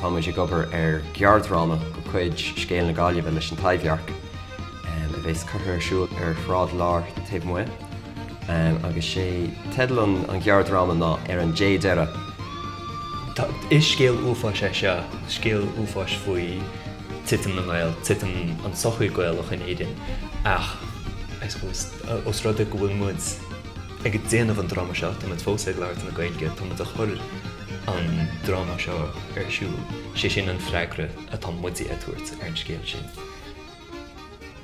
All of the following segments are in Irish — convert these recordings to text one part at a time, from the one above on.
Tá muid ag obair ar ghearrdhráma de chuid Scéal na Gaillimhe leis An Taibhdhearc, a bheas curtha ar siúl ar Shráid an Láir taobh amuigh, agus sé teideal an ghearrdhráma ná Ar an Dé Deireadh. Is scéal uafáis é seo, scéal uafáis faoi titim na nGael, titim an sochaí Gaelach in Éirinn, ach I suppose, os rud é go bhfuil muid, Ag déanamh an dráma seo, táimid fós ag labhairt na Gaeilge, táimid ag chur an dráma seo ar siúl, sé sin an freagra atá muide ag tabhairt ar an scéal sin.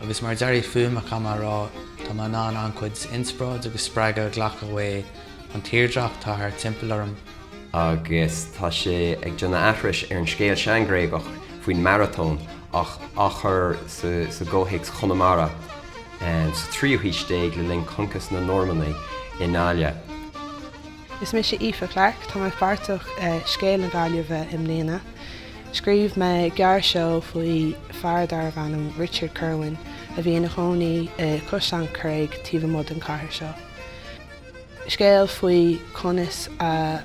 Agus mar dearadh fuaime chomh maith ar ndóigh, tá mé in ann an-chuid inspioráid agus spreagadh a ghlacadh ón tírdhreach atá thart timpeall orm, agus tá sé ag déanamh aithris ar an scéal seanGhréagach faoin maratón ach á chur i gcomhthéacs Chonamara. sa tríú haois déag le linn choncas na Normannaigh i nGaillimh. Is mise Aoife Clarke. Tá mé páirteach i Scéal na Gaillimhe i mbliana. Scríobh mé gearr seó faoi fear darbh ainm Richard Kirwan a bhí ina chónaí i Caisleán Creige taobh amuigh den chathair seo. Scéal faoi conas a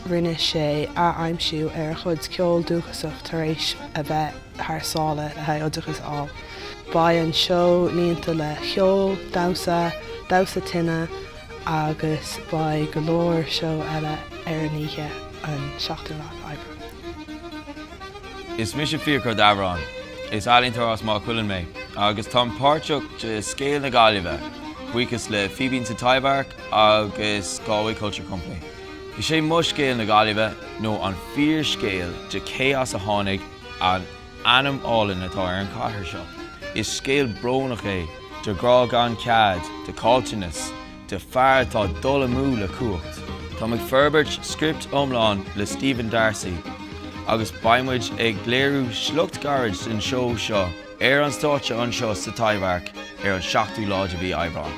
rinne sé ath-aimsiú ar a chuid ceol dúchasach tar éis a bheith thar sáile le haghaidh oideachas a fháil. Beidh an seó líonta le ceol, damhsa, damhsa tine agus beidh go leor seó eile ar an oíche an 7ú lá Aibreán. Is mise Fiachra Ó Dábhoireann. Is ealaíontóir as Maigh Cuilinn mé agus táim páirteach de Scéal na Gaillimhe, buíochas le Fíbín sa Taibhdhearc agus Galway Culture Company. Is é mo scéal na Gaillimhe ná an fíorscéal de cé as a tháinig an ainm álainn atá ar an chathair seo. Is scéal brónach é de ghrá gan cead, de chaillteanas, de fear atá ag dul amú le cumhacht. Táim ag forbairt script iomlán le Stephen Darcy agus beidh muid ag léiriú sliocht gairid ón seó seo ar an stáitse anseo sa Taibhdhearc ar an 7ú lá de mhí Aibreán.